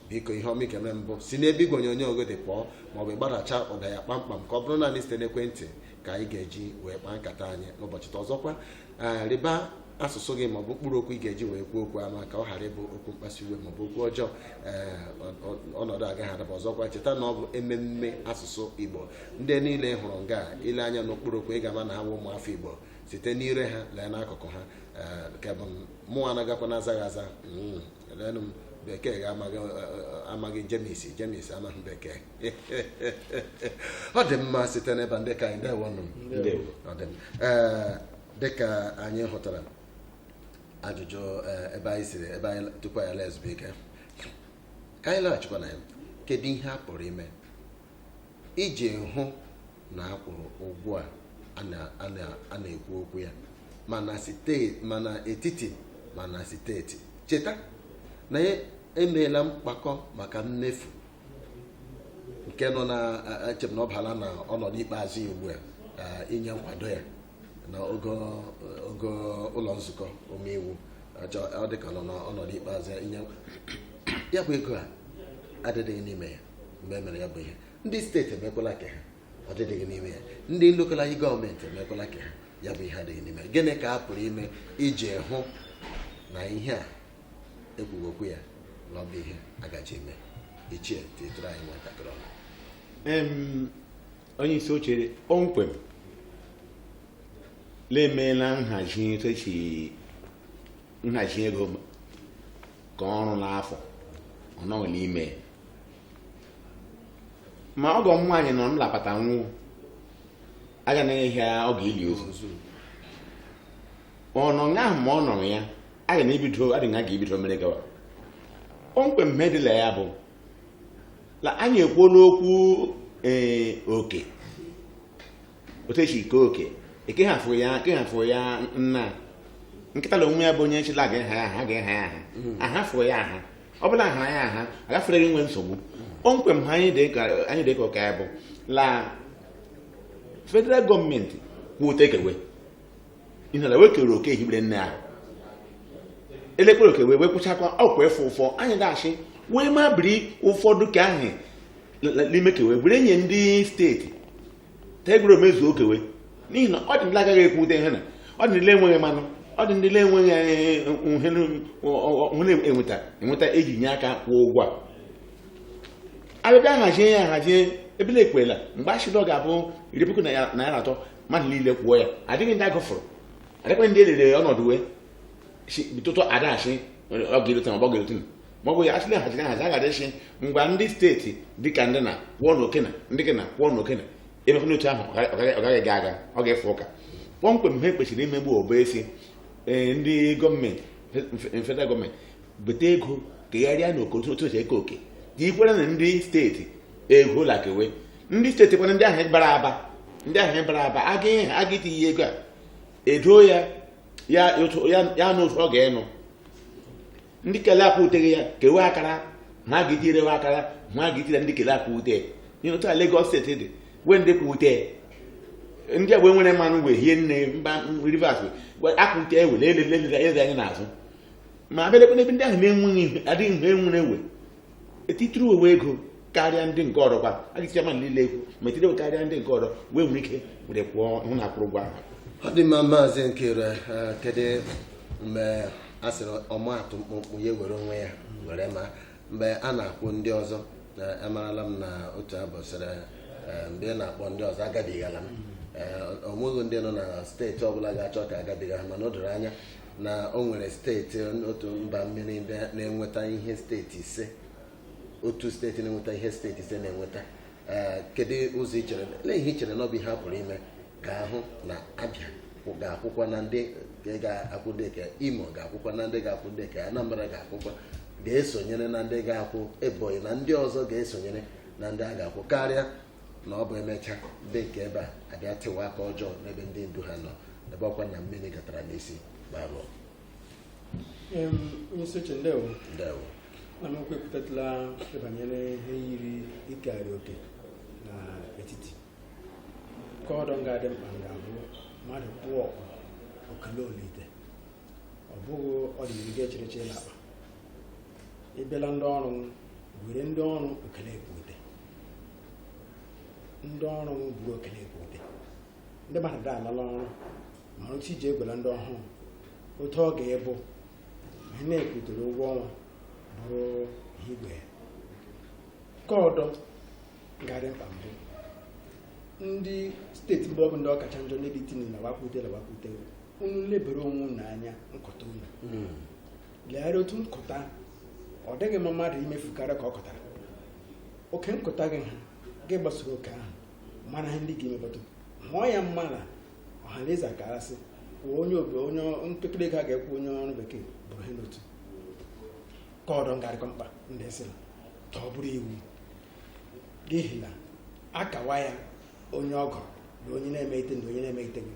biko ihe ọma ị ga-eme m bụ si n'ebe igwe onyonyo gị dị pụọ maọbụ ịgbadacha ụda ya kpamkpam ka ọ bụrụ naanị site n'ekwentị ka anyị ga-eji wee kpaa nkata anyị n'ụbọchị taa ọzọkwa ee rịba asụsụ gị maọbụ mkpụrụ okwu ị ga-eji wee kwuo okwu ama ka ọ ghara ịbụ okwu mkpasu iwe maọbụ okwu ọjọọ ee ọ- ọ- ọnọdụ agaghị adaba ọzọkwa cheta na ọ bụ ememme asụsụ igbo ndị niile ị hụrụ nga a, i lee anya n'okpuru okwu ị ga-ama na ha bụ ụmụafọ igbo site n'ire ha lee n'akụkụ ha ee, nke bụ mụwa anagakwa na azaghị aza Mm, leenụ m bekee ga-amaghị eh, eh, amaghị jemis jemis amaghị bekee ọ dị mma site n'ebe ndị ka anyị ndewo nụ Ndewo. Ọ dị mma. Ee, dịka anyị hụtara ajụjụ ee, ebe anyị siri ebe anyị tupu anyị laa ezumike ka anyị laghachikwa na ya kedu ihe a pụrụ ime iji hụ na a kwụrụ ụgwọ a a na- a na- a na-ekwu okwu ya ma na site- ma na etiti ma na steeti cheta na e meela mkpakọ maka mmefu nke nọ na eche m na ọ baala na ọnọdụ ikpeazụ ya ugbu a inye nkwado ya na ogo ụlọ nzukọ omeiwu ọ dị ka nọ n'ọnọdụ ikpeazụ ya inye ya bụ ego a adịdịghị n'ime ya mgbe e mere ya bụ ihe ndị steeti emekwala ka ha adịdịghị n'ime ya ndị lokal gọọmenti emekwala ka ha ya bụ ihe adịghị n'ime ya gịnị ka a pụrụ ime iji hụ na ihe a e kwuge okwu ya na ọ bụ ihe agaji eme ichie titụrụ anyị nwatakịrị ọnụ onye isi oche kpọmkwem na-emeela nhazi echi nhazi ego ka ọrụ n'afọ ọ nọ n'ime ma ọgọ m nwaanyị nọ m lapata nwụọ aga na-enye ya oge ili ozu ọ nọ nga ahụ ma ọ nọrọ ya aga m ebido adịghị ha ga-ebido mere gawa kpọmkwem ihe dị la ya bụ na anyị ekwuola okwu ee oke otu esi eke oke eke ha fụ ya eke ha fụ ya nna nkịta na onwe ya bụ onye nchịla ga-eha ya aha ga-eha ya aha aha fụ ya aha ọ bụla aha ya aha agafere gị nwe nsogbu kpọmkwem ha anyị dị ka anyị dị ka ụka ya bụ la federal gọọmenti kute kewe ihe na wekere oke hibere nne ahụ elekere oke wee wekwụchakwa ọkwa efe ụfọ anyị ga-achị wee ma biri ụfọdụ ka ahụ n'ime kewe were nye ndị steeti tegoro mezuo okewe n'ihi na ọ dị ndị agaghị akwụta ihe na ọ dị ndị enweghị mmanụ ọ dị ndị enweghị onwe enweta enweta eji nye aka kwụọ ụgwọ a abịabịa hazie ya hazie ebe e kwerela mgbe achịdọ ga-abụ iri puku naira atọ mmadụ niile kwụọ ya adịghị ndị agụfụrụ adịkwa ndị elere ọnọdụ wee tụtụ adachi ọ ga-erute ma ọ ga-erute ma ọ bụ ya asịla haziri ahazi a gara ịsị ngwa ndị steeti dịka ndị na kwụọ na okena ndị gị na kwụọ na okena emekwa n'otu ahụ ọ gaghị aga ọ ga-efe ụka kpọmkwem ha kwesịrị ime bụ ọ bụ e sị e, ndị gọọmenti federal gọọmenti bute ego kegharịa na oke otu esi eke oke ka ikwere na ndị steeti ego la-ekewe ndị steeti kwana ndị ahụ bara aba ndị ahụ bara aba a ga-etinye ego a edo ya na otu ọ ga-enụ ndị kele akwụteghị ya kewe akara ma a ga-etirewe akara ma a ga-etire ndị kele akwụte ihe otu a Lagos steeti dị wee ndị kwụte ndị agba nwere mmanụ wee hie nne mba Rivers akwụte ewe elere anya n'azụ ma abịalekwa n'ebe ndị ahụ na-enweghị adịghị mgbe enwere ewe etitiri uwe ego karịa ndị nke ọrụ kwa a ga-esi ama niile ekwu ma etiri uwe karịa ndị nke ọrụ wee nwere ike were kwụọ hụ na a kwụrụ ụgwọ ahụ ọ dị mma maazị Nkere eh, kedu mgbe a sịrị ọmaatụ mkpụmkpụ ya were onwe ya were ma mgbe a na-akwụ ndị ọzọ na amarala m na otu abụ sịrị eh, mgbe ị na-akpọ ndị ọzọ agabigala m eh, o nweghị ndị nọ na steeti ọbụla ga-achọ ka a gabiga ha mana o doro anya na o nwere steeti otu mba mmiri na-enweta ihe steeti ise otu steeti na-enweta ihe steeti ise na-enweta eh, kedu ụzọ i chere eh, ihe i chere na ọ bụ ihe a pụrụ ime ka a hụ na Abịa ga-akwụkwa na ndị ga-akwụ dịka Imo ga-akwụkwa na ndị ga-akwụ dịka Anambra ga-akwụkwa ga-esonyere na ndị ga-akwụ Ebonyi na ndị ọzọ ga-esonyere na ndị a ga-akwụ karịa na ọ bụ e mechaa ndị nke ebe a abịa tụwa aka ọjọọ n'ebe ndị ndu ha nọ ebe ọkwa na mmiri gatara n'isi gbarụọ Em, onye isi oche ndewo na m ekwupụtatụla ihe banyere ihe yiri ịkarị oke na etiti ka ọdọ nga dị mkpa ga-abụ mmadụ pụọ okele olite ọ bụghị ọdịnihu gị echereche na akpa ibela ndị ọrụ were ndị ọrụ okele ekwute ndị ọrụ m buru okele ekwute ndị mmadụ da alala ọrụ mara otu i ji egwela ndị ọhụrụ otu ọ ga-ebụ ihe na-ekwutere ụgwọ ọnwa bụrụ ihe igwe ka ọdọ garị mkpa mbụ ndị steeti mgbe ọ bụ ndị ọ kacha njọ n'ebe itini na wakwute na wakwute unu lebere onwe unu anya nkọta unu legharị otu nkụta ọ dịghị mma mmadụ imefukarị ka ọ kụtara oke nkụta gị ha gị gbasoro oke ahụ mara ihe ndị ga-emepụta mụọ ya mma na ọha na eze akarasị kwuo onye obe onye mpekere ego a ga-akwụ onye ọrụ bekee bụrụ ihe n'otu ka ọdọ ngarịkọ mkpa ndị sị na ka ọ bụrụ iwu n'ihi na akawa ya onye ọgọ na onye na-eme ite na onye na-eme iteghị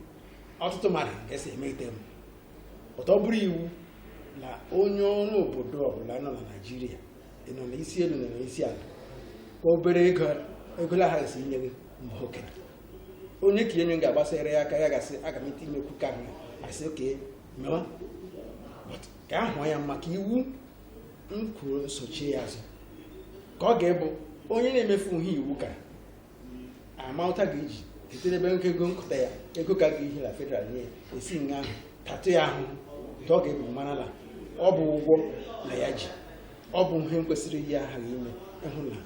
ọtụtụ mmadụ ga-asị eme ite m ọtọ bụrụ iwu na onye ọrụ obodo ọbụla nọ na Naịjirịa nọ na isi elu na isi ala ka obere ego la ha esi inye gị mgbe oke onye ka enye ga-agbasara ya aka ya ga-asị aga m ite imekwu ka ahụ a sị okay mewa ka ahụ ya maka iwu m kwuru nsochi ya azụ ka ọ ga-ebụ onye na-emefu ihe iwu ka amata ga-eji site n'ebe nke ego nkụta ya ego ka ga-ehi na federal nye e si nga ahụ tatụ ya ahụ ka ọ ga-ebu marala ọ bụ ụgwọ na ya ji ọ bụ ihe kwesịrị ihe aghaghị ime ịhụ na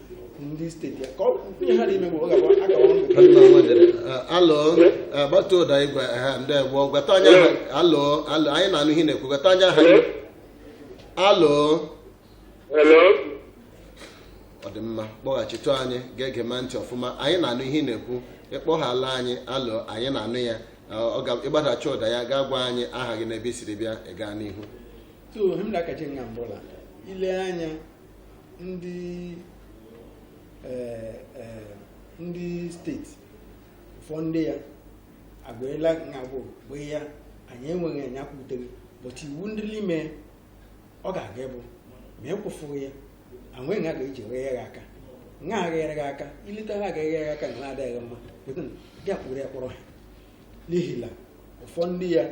ndị steeti ya ka ihe ha na-ime bụ ọ ga-agba alụ gbata ụda igwe ha ndị egbo gwata onye alụ alụ anyị na-anụ ihe na-ekwu gwata onye aha alụ Hello? ọ dị mma kpọghachitụ anyị ga-ege ma ntị ọfụma anyị na-anụ ihe ị na-ekwu ịkpọghala anyị alo anyị na-anụ ya ọ ga ịgbadacha ụda ya gaa gwa anyị aha gị na ebe i siri bịa ị gaa n'ihu so him da kace nga mbola ile anya ndị eh, eh, ndị steeti ụfọ ndị ya agbaela nga bụ gbe ya anyị enweghị anya kwutere but iwu ndị n'ime ọ ga-aga ịbụ ma e kwụfụghị ya anwe nga ga-eji ghe ya aka nga aghere gị aka ileta ha agaghị ya aka na na-adịghị mma gị akpụrụ ya kpọrọ ha n'ihi na ụfọ ndị ya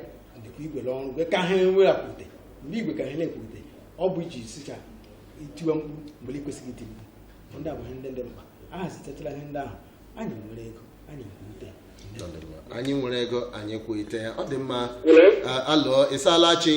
dịkwa igwere ọrụ gwe ka ha enwe akwute mgbe igwe ka ha na-ekwute ọ bụ iji sicha itiwe mkpu mgbe ị kwesịghị iti mkpu ndị abụghị ndị dị mkpa a hazitachara ihe ndị ahụ anyị nwere ego anyị ekwute anyị nwere ego anyị kwụite ya ọ dị mma alo ịsalachi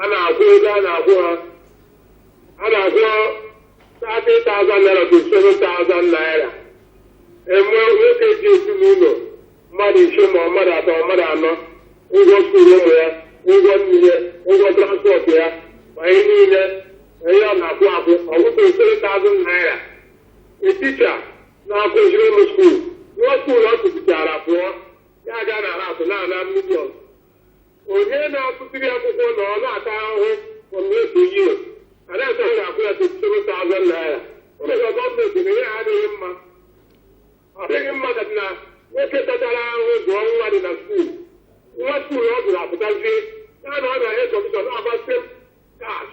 a na-akwụ ego a na-akwụ ha a na-akwụ 30,000 naira 27,000 naira e nwee nwoke ji ezinụlọ mmadụ ise ma ọ mmadụ atọ ọ mmadụ anọ ụgwọ skuulu ụmụ ya ụgwọ nri ya ụgwọ transpọt ya ma ihe niile ma ihe ọ na-akwụ akwụ ọ bụ 27,000 naira a teacher na-akụziri ụmụ skuulu nwa skuulu ọ kụzichara pụọ ya aga na hapụ na-ana million onye na-akụziri akwụkwọ na ọ na-ata ahụhụ for most of you a na-ata ya akwụ ya 27,000 naira o mere ka gọọmenti na ihe a adịghị mma ọ dịghị mma ka na nwoke tatara ahụhụ zụọ nwa dị na skuul nwa skuul ọ gụrụ apụtazie ya na ọ na-enye kọmishọn na-agbasị kash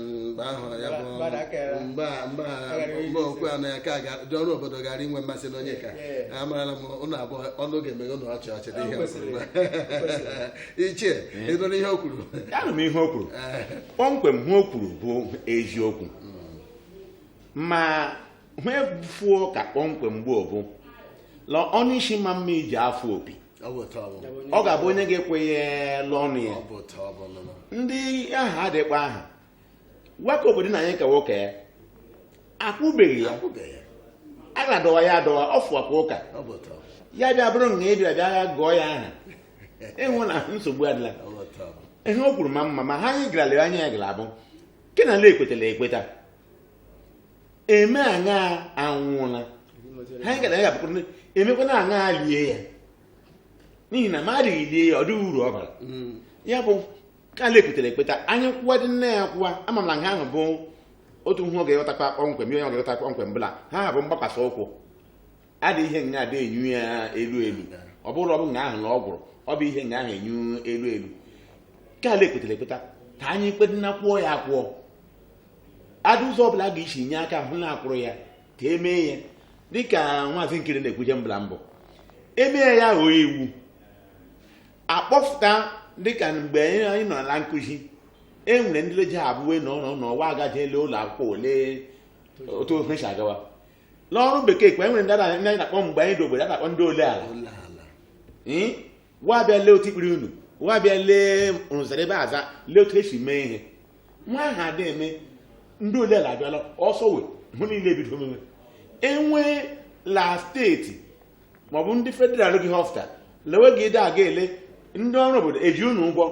mgbe ahụ ya bụ mgbe a mgbe a mgbe okwu anọ ya ka ga- ndị ọrụ obodo gara inwe mmasị n'onye ka Yeah. amarala m ụnụ abụọ ọnụ ga-emeghe ụnụ ọchị ọchị dị ihe O kwesịrị, o kwesịrị. ichie ị nụrụ ihe o kwuru anụ m ihe o kwuru kpọmkwem ihe o kwuru bụ eziokwu ma ihe fuo ka kpọmkwem gboo bụ la ọnụ nsị ma mma iji afụ opi Ọ bụ otu ọ bụ. ọ ga-abụ onye ga-ekwe ya l'ọnụ ya Ọ bụ otu ọ bụ nụnụ. ndị ahụ adịkwa aha gwaka obodo na anyị ka nwoke ya akwụbeghị ya Akwụbeghị ya. a ga-adọwa ya adọwa ọ fụwakwa ụka Ọ bụ otu ọ bụ. ya bịa bụrụ na ị bịa bịa ya gụọ ya aha ị hụ na nsogbu adịla Ọ bụ otu ọ bụ. ihe o kwuru ma mma ma ha anyị gara lere anya ya gara abụ nke na ala ekwetara ekweta eme aṅa anwụọla ha gara ya bụkwara ndị- emekwana aṅa lie ya n'ihi na ma adịghị lie ya ọ dịghị uru ọ bara Mm. ya bụ ka ala ekpetara ekpeta anyị kwụwa dị nne ya kwụwa ama m na nke ahụ bụ otu ihe ọ ga-eghọtakwa kpọmkwem ihe ọ ga-eghọta kpọmkwem bụ la ha bụ mgbakwasị ụkwụ adị ihe nga adị enyu ya elu elu ọ bụrụ ọ bụ nga ahụ na ọ gwụrụ ọ bụ ihe nga ahụ enyu elu elu ka ala ekpetara ekpeta ka anyị kpedịna kwụọ ya akwụọ adị ụzọ ọbụla a ga-esi nye aka hụ na akwụrụ ya ka emee ya dịka nwaazị nkiri na-ekwuje mbụla mbụ emee ya ghọọ iwu akpọfụta dịka mgbe anyị nọ na nkụzi e nwere ndị leji abụwe na ọnọ n'ọnwa agaje ele ụlọ akwụkwọ ele otu ihe si agawa n'ọrụ bekee kwa e nwere ndị ara- ndị anyị na-akpọ mgbe anyị dị obere a na-akpọ ndị ole ala ole ala Ee, wa bịa lee otu ikpiri unu wa bịa lee rụzara ebe aza lee otu esi mee ihe ihe ahụ adị eme ndị ole ala abịala ọsọ wee hụ niile ebido omume enwee la steeti maọbụ ndị federal ga-ịhọfụta lewe ga-ịdị aga ele ndị ọrụ obodo eji unu ụgwọ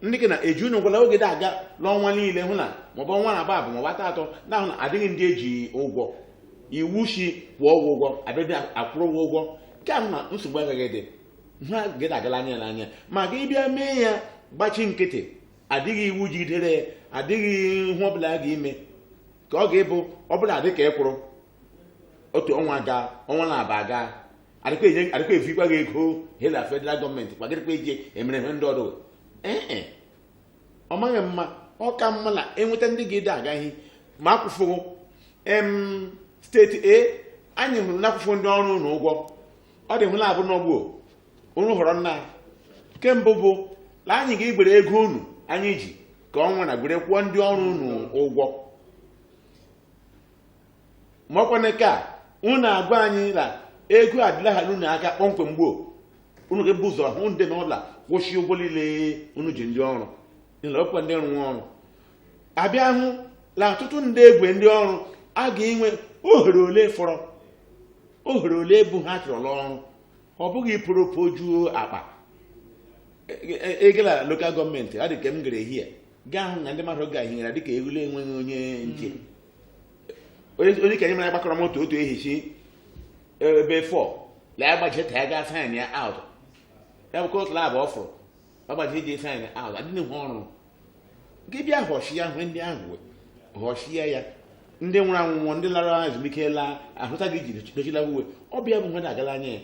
ndị gị na eji unu ụgwọ lewe ga-ịdị aga n'ọnwa niile hụ na maọbụ ọnwa naabọ abụ maọbụ atọ atọ na-ahụ na adịghị ndị eji ụgwọ iwu shi kwụọ ụgwọ ụgwọ abịadị akwụrụ ụgwọ ụgwọ nke a na nsogbu agaghị ịdị ha ga-ịdị agala anya n'anya ma gị bịa mee ya gbachi nkịtị adịghị iwu jidere ya adịghị ihe ọbụla a ga-ime ka ọ ga-abụ ọbụla adị ka ekwụrụ otu ọnwa gaa ọnwa naabọ gaa adịkwa enye- adịkwa evukwa gị ego hela federal gọọmenti kwagịrịkwa iji emere ihe ndị ọdọ ee e ọ maghị mma ọ ka mma na enweta ndị ga-ịdị agaghị ma akwụfụghụ em steeti a anyị hụrụ na-akwụfụ ndị ọrụ unu ụgwọ ọ dị ihe labụ nọ ugbuo unu họrọ nnaa ke mbụ bụ na anyị ga-egwere ego unu anyị ji ka ọnwa na gwere kwụọ ndị ọrụ unu ụgwọ ma ọkwanụ ka unu agwa anyị na ego adịla ha unu aka kpọmkwem gboo unu ga-ebu ụzọ hụ ndị n'ụlọ kwụsị ụgwọ niile unu ji ndị ọrụ nile ọkwa ndị rụrụ ọrụ abịa hụ na ọtụtụ ndị egwe ndị ọrụ a ga-enwe ohere ole fọrọ ohere ole bụ ha chọrọ ọrụ ọ bụghị kpọrọ kpojuo akpa ego la lokal gọọmenti ọ dị ka m gara ehihie gaa hụ na ndị mmadụ gahiere dịka ehule enweghị onye nche onye onye ka anyị mara gbakọrọ otu otu ehichi ebe four lee agbaje ta ya gaa sign ya out ya bụkwa otu labụ ọ fụrụ agbaji eji efe anyị ahụ adịghị ha ọrụ gị bịa họchi ya hụ ndị ahụ wee họchie ya ndị nwụrụ anwụ nwụọ ndị lara ezumike laa ahụta gị jiri dochila uwe ọ bịa bụ mmadụ agala anya ya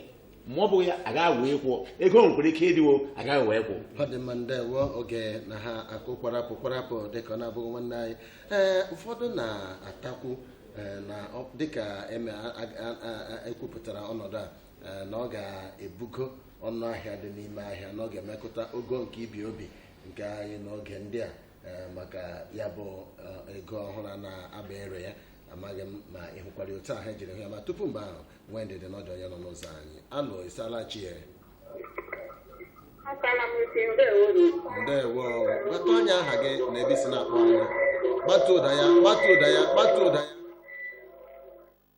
ma ọ bụ ya agaghị wee kwụọ ego nwekwara ike ịdịwo agaghị wee kwụọ ọ dị mma ndewo oge na-akụ kwarapụ kwarapụ dịka ọ na-abụghị nwanne anyị ee ụfọdụ na-atakwu ee, na ọ- dịka eme a- a- a- a- ekwupụtara ọnọdụ a eh, na ọ ga-ebugo ọnụ ahịa dị n'ime ahịa na ọ ga-emetụta ogo nke ibi obi nke anyị n'oge ndị a eh, maka ya bụ eh, ego ọhụrụ a na-aba ere ya amaghị m ma ị hụkwara otu ahụ ejiri hụ ya ma tupu mgbe ahụ nwee ndidi nọdụ onye nọ n'ụzọ anyị alo ị saala chi ya Akala m isi ndewo unu. ndewo gwatụ anyị aha gị na ebe i si na-akpọ anyị gbatu ụda ya gbatu ụda ya gbatu ụda ya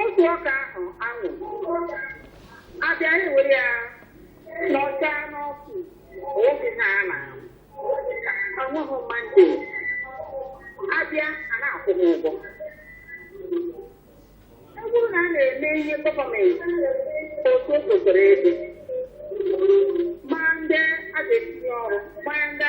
Otu ọka ahụ anwụ abịa ewere ya n'ọcha n'ọkụ oge ha a na-awụghị mmadụ abịa a na-akwụ m ụgwọ ọ bụrụ na a na-eme ihe gọọmenti otu o kwesịrị ịdị ma ndị a ga-etinye ọrụ ma ndị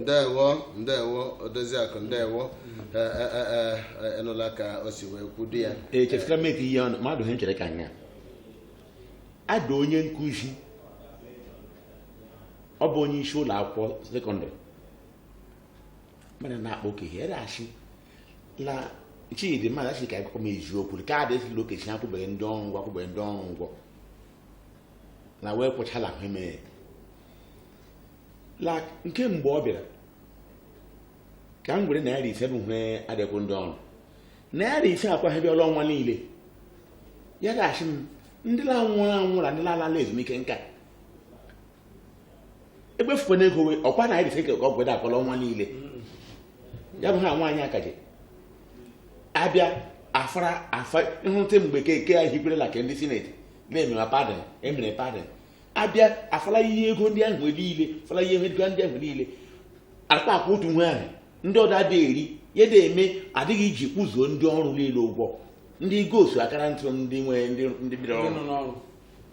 ndewo ndewo odoziakụ ndewo ị nụla ka o si wee kwudo ya echefutara m eti ihe ọnụ mmadụ ha nchere ka nya ada onye nkụzi ọ bụ onye isi ụlọ akwụkwọ sekọndịrị mana na-akpọ oke ihe ere asị na chidi mmadụ asị ka akụkọ m eziokwu ka adị asị la Okezie akwụbeghị ndị ọrụ ụgwọ akwụbeghị ndị ọrụ ụgwọ na wee kwụchala ahụ ime la nke mgbe ọ bịara ka m were naira ise bụ hwe adị akwụ ndị ọrụ naira ise akwaghịbịala ọnwa niile ya ga-asị m ndị la nwụrụ anwụ na ndị na-alala ezumike nka egbefukwa na ego ọkwa naira ise ka ọ gweda akwụ la ọnwa niile ya bụ ha nwaanyị akaje abịa afara afa nhụta mgbe keke a hikwerela ka ndị sineti na-emema padding e mere padding abịa afala ihe ego ndị ahụ niile fala ihe ego ndị ahụ niile akpa akpa otu nwe ahụ ndị ọdọ adịghị eri ya na-eme adịghị iji kwụzuo ndị ọrụ niile ụgwọ ndị ghost worker ntụ ndị nwere ndị ndị bidoro ọrụ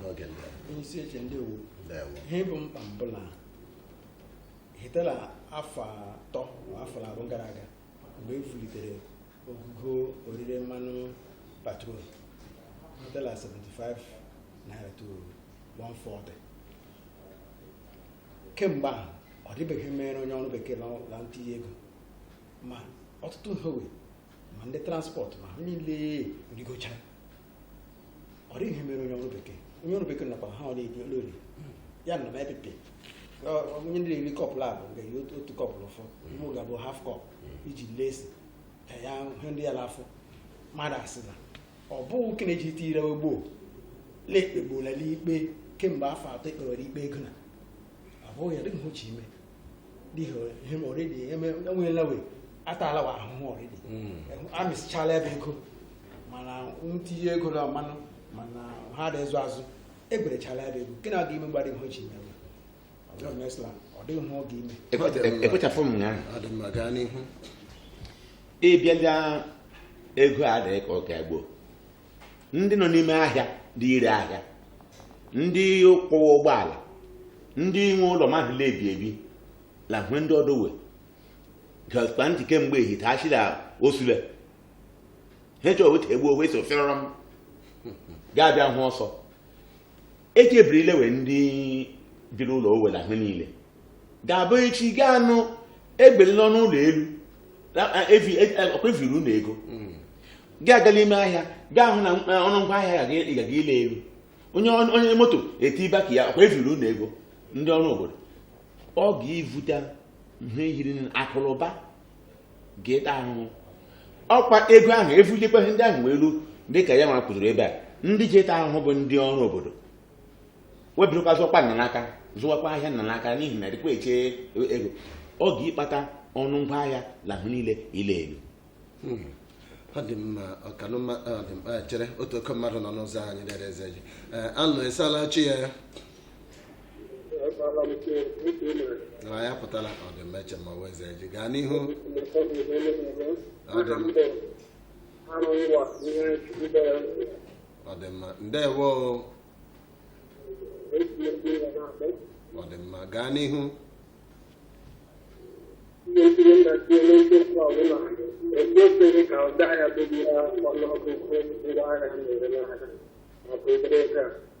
n'oge ndị a. onye isi oche ndewo Ndewo. ihe bụ mkpa m bụ na hite la afọ atọ ma afọ abụọ gara aga mgbe e vulitere ogogo orire mmanụ petrol hite la 75 naira to 140 kemgbe ahụ ọ dịbeghị ihe e meere onye ọrụ bekee na ntinye ego ma ọtụtụ nhowe ma ndị transport ma ha niile rigochara ọ dịghị ihe mere onye ọrụ bekee onye ọrụ bekee nakwa ha ọ na-ebi ọrụ eri ya na mepete onye ndị na-eri kọpụ labụ ga eri otu- otu kọpụ n'ụfọ mụ ga-abụ half cup iji lesi ka ya hụ ndị ya n'afọ mmadụ asị na ọ bụghị nke na-eji ite ire gboo lekpegbola n'ikpe kemgbe afọ atọ e kpewere ikpe ego na ọ bụghị ya dịghị hwe ọ ji ime him already enweghị lawe atalawa ahụhụ already amịsịchala ebe ego mana ntinye ego na mmanụ mana ha dị ịzụ azụ eberechala ebe ego nke na-aga ime gbara ihe ji mewe ọ dịghị ihe ọ ga-ime ekwechapụ m ya ọ dị mma gaa n'ihu ịbịa ego adịghị ka ọ ga-egbo ndị nọ n'ime ahịa dị ire ahịa ndị kwụwa ụgbọala ndị nwe ụlọ mmadụ na-ebi ebi la hwe ndị ọdọ we gakpa ntị kemgbe ehite achị na osule ha chọọ weta egbu owe so fịọrọ m ga-abịa hụ ọsọ eji ebiri ilewe ndị biri ụlọ owela ahụ niile ga-abụ echi ga-anụ ebuliela ọnụ ụlọ elu ọkwa eviri unu ego gị gaa la ime ahịa gaa hụ na ọnụ ngwa ahịa ga-aga ịla elu onye moto etiba ke ya ọkwa eviri unu ego ndị ọrụ obodo ọ ga-evute ihe yiri akụ la ụba ga-eta ahụhụ ọkwa ego ahụ evulikwa ihe ndị ahụ wee elu dị ka ya ma kwuziri ebe a ndị ji eta ahụhụ bụ ndị ọrụ obodo webirikwa zụọkwa nna n'aka zụwakwa ahịa nna n'aka n'ihi na dịkwa eche ego ọ ga-ịkpata ọnụ ngwa ahịa na ahụ niile ịla elu ọ dị mma ọkanụma ọ dị mma chere otu oke mmadụ nọ n'ụzọ anyị dere Ezeji anụ ị sala chi ya na ya pụtara ọ dị mma Echema Ezeji gaa n'ihu ọ dị mma ọ dị mma ndewo o. ọ dị mma gaa n'ihu Thank you.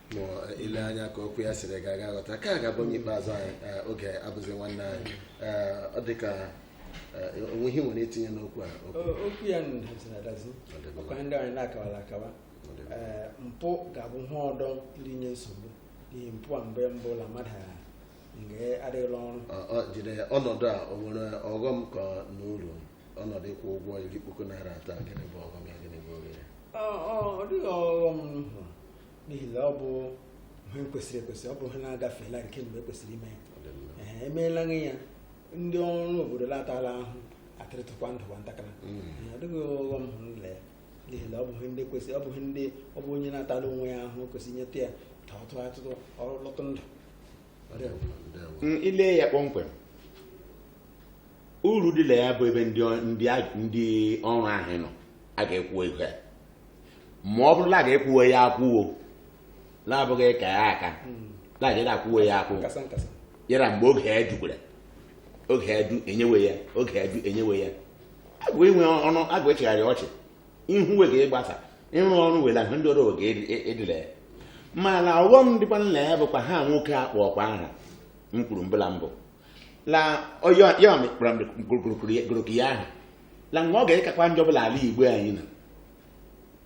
ma i le anya ka okwu ya siri gaa ga-aghọta ka ga-abụ onye ikpeazụ anyị eh, oge abụzi nwanne anyị Eh, ọ dị ka eh, o nwe ihe i nwere itinye n'okwu a okwu O- okwu ya nụ daziri adazi Ọ dị mma. ọkwa ndị anyị na-akawala akawa Ọ dị mma. Ee, mpụ ga-abụ ihe ọdọ iri nye nsogbu n'ihi mpụ a mgbe ọ bụla mmadụ ha nga adịghị la ọrụ Ọ- ọ jide ọnọdụ a o nwere ọghọm ka na uru ọnọdụ ịkwụ ụgwọ iri puku naira atọ a, gịnị bụ ọghọm ya gịnị bụ oghere Ọ- ọ ọ dịghị ọghọm m hụrụ n'ihi na ọ bụ ihe kwesịrị ekwesị ọ bụ ihe na-agafeela nke mgbe e kwesịrị ime ya emeela ya ndị ọrụ obodo la-atala ahụ atịrịtụkwa ndụ nwa ntakịrị ọ dịghị ọghọm hụrụ nle ya n'ihi na ọ bụ ihe ndị kwesịrị ọ bụ ihe ndị ọ bụ onye na-atala onwe ya ahụ kwesịrị nyeta ya ka ọ tụọ atụtụ ọrụ lọtụ ndụ ile ya kpọmkwem uru dị la ya bụ ebe ndị ọ- ndị a- ndị ọrụ ahụ nọ a ga-ekwu ego ya ma ọ bụrụ na a ga-ekwuwe ya akwụwo na-abụghị ka ya aka na a ga akwụwe ya akwụ nkasa nkasa yara mgbe oge ya jukwara oge ya ju enyewe ya oge ya ju enyewe ya agwa inwe ọnụ agwa echegharị ọchị ihu we ga-egbasa ịrụ ọrụ wela ahụ ndị ọrụ oge edila ya mana ọghọm dịkwanụ la ya bụkwa ihe a nwoke a kpọkwa aha m kwuru mbụ la mbụ la ọyọ ya mekpara mgbe gụrụkụrụ ya- gụrụkụ ya ahụ la nwa ọ ga-ekakwa njọ bụ la ala Igbo anyị na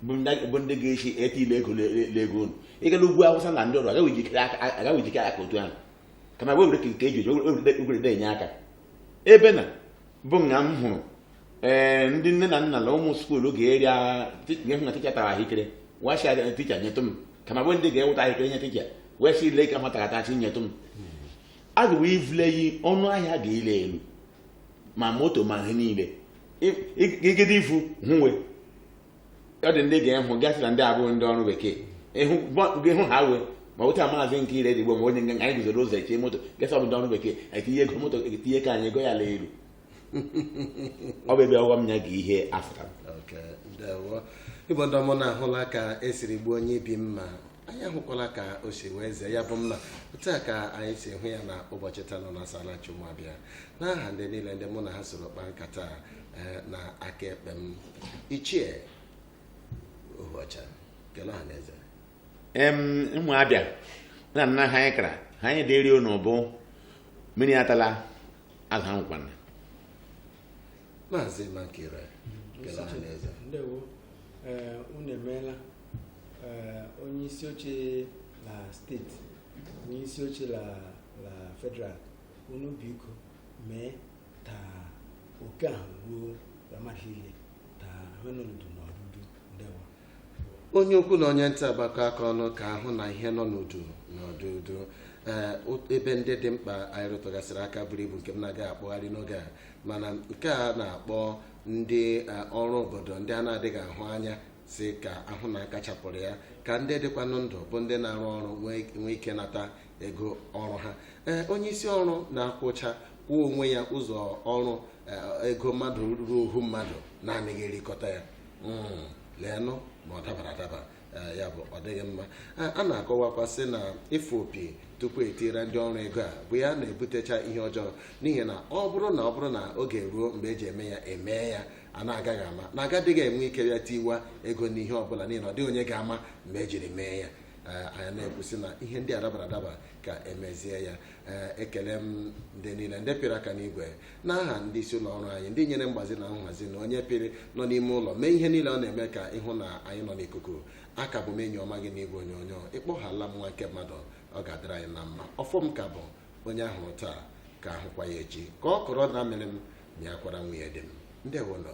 bụ ndị- bụ ndị ga-esi ete ile ego le- le- le ego unu ịgala ugwu Awụsa na ndị ọrụ agaghị ejikere aka agaghị ejikere aka otu ahụ kama wee were ka nke eji eji ogwere na-enye aka ebe na bụ nga m hụrụ ee ndị nne na nna na ụmụ skuulu ga-eri agha ga-ehụ na ticha tara ahụekere wachi aga ticha nyetụ m kama bụ ndị ga-eweta ahụekere nye ticha wee sị ile ka nwata gata chi nyetụ m a ga wee vule yi ọnụ ahịa ga-ela elu ma moto ma ihe niile igide ifu hụwe ọ dị ndị ga-ehụ gasị na ndị abụghị ndị ọrụ bekee ịhụ ha wee ma wụta maazị nke ire digbo ma onye nga anyị guzoro ụzọ eche moto gasị ọ bụ ndị ọrụ bekee anyị tinye ego moto tinye ka anyị ego ya la elu ọ bụ ebe ọghọm ya ga ihe afụta Okay, ndewo. Igbo ndị ọma unu ahụla ka e siri gbuo onye ibi mma anyị ahụkwala ka o si wee zee ya bụ mma otu a ka anyị si hụ ya na ụbọchị taa nọ na Asalachi ụmụ Abịa n'aha ndị niile ndị mụ na ha soro kpaa nkata a, eh, na aka ekpe m ichie ohuọcha kele ọha na eze em ụmụ Abịa na nna ha anyị kara ha anyị dịrị unu bụ mmiri atala azụ anwụkwana maazị Mankira kele ọha na eze ndewo ee unu emeela ee onye isi oche la steeti onye isi oche la la federal unu biko mee ta oke ahụ ruo la mmadụ niile ta ihe nọ l'udu nọdụ udu ndewo onye ukwu na onye nta agbakọ aka ọnụ ka a hụ na ihe nọ n'udu nọdụ udu ee o- ebe ndị dị mkpa anyị rụtụgasịrị aka buru ibu nke m na-agaghị akpọgharị n'oge a mana nke a na-akpọ ndị eh, ọrụ obodo ndị a na-adịghị ahụ anya sị ka a hụ na a kachapụrụ ya ka ndị dịkwanụ ndụ bụ ndị na-arụ ọrụ nwee nwee ike nata ego ọrụ ha ee onye isi ọrụ na-akwụcha kwụọ onwe ya ụzọ ọrụ eh, ego mmadụ ruo ohu mmadụ na-anaghị erikọta ya Mm, leenụ ma ọ dabara adaba eh, ya bụ ọ dịghị mma Eh, a na-akọwakwa sị na ịfụ opi tupu etira ndị ọrụ ego a bụ ya na-ebutecha ihe ọjọọ n'ihi na ọ bụrụ na ọ bụrụ na oge ruo mgbe eji eme ya emee ya a na-agaghị ama na agadịghị enwe ike bịa tiwa ego n'ihe ọbụla n'ihi na ọ dịghị onye ga-ama mgbe ejiri mee ya Eh, anyị na-ekwusị na ihe ndị a dabara adaba ka emezie ya Eh, ekele m ndị niile ndị pịrị aka n'igwe n'aha ndị isi ụlọ ọrụ anyị ndị nyere mgbazi na nhazi na onye pịrị nọ n'ime ụlọ mee ihe niile ọ na-eme ka ịhụ na anyị nọ n'ikuku a ka bụ m enyi ọma gị n'igwe onyonyo ịkpọhala m nwa nke mmadụ ọ ga-adịrị anyị na mma ọfọ m ka bụ onye ahụrụ taa ka ahụkwa ya echi ka ọkọrọ na-amịrị m mịakwara nwunye di m ndewonụ